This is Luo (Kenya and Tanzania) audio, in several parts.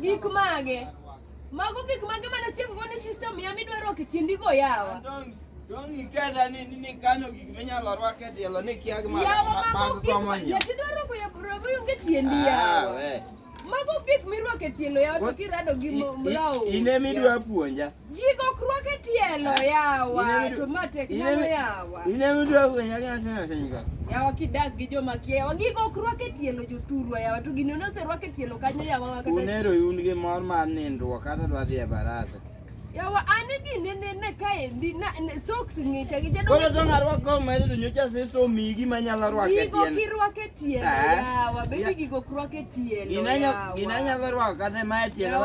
Gik mage? Mago gik mage mana sieko go ni system ya midwaro ok tindi go yawa. Dong iketa ni ni kano gik minyalo rwak e tielo ni kia ma mag komo nyo. Yati dwaro ko ya robo yunge tiendi ah, yawa. Mago gik mirwak e tielo yawa to kirado gi mlawo. Ine midwa puonja. Gikokruok e tielo yawa to ma tek nano yawa. Ine mtu akwenye kana tena tena. Yawa kidak gi joma kia yawa gikokruok e tielo jothurwa yawa to gino noserwak e tielo kanyo yawa wakata. Unero un gi mor mar nindruok kata dwa dhi e barasa. Yawa an gini ne ne kaendi na ne- socks ng'icha gi jadolo. Koro to ngarwako medo nyocha sisto migi manyalo rwake Gigo tiende. kirwake Inanyalo rwako kata mae tielo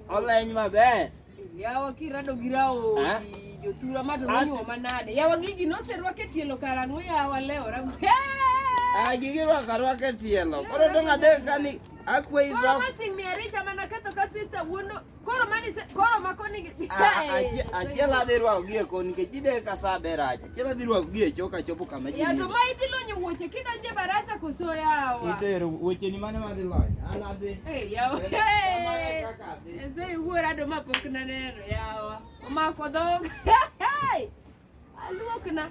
oleny maber. Yawa kirado gi raodi jothura ma to nonyuo manade. Yawa gigi noserwak e tielo karang'o yawa lewra. Ah, gigi rwako arwaka e tielo. Koro dong' adek kani akweyi socks. Mama sing me arita mana ketho ka sister wuondo. Koro mani se koro ma koni gi. Achiel adhi rwako gie koni nikech ideka sa ber aja. Achiel adhi rwako gie choka chopo kama ji. Ya to ma idhi lonyo wuoche kidonje barasa koso yawa. Itero wuoche ni mane madhi lony. An adhi. Eh yawa. Ese wuora do ma pok na neno yawa. Omako dhog. Aluokna.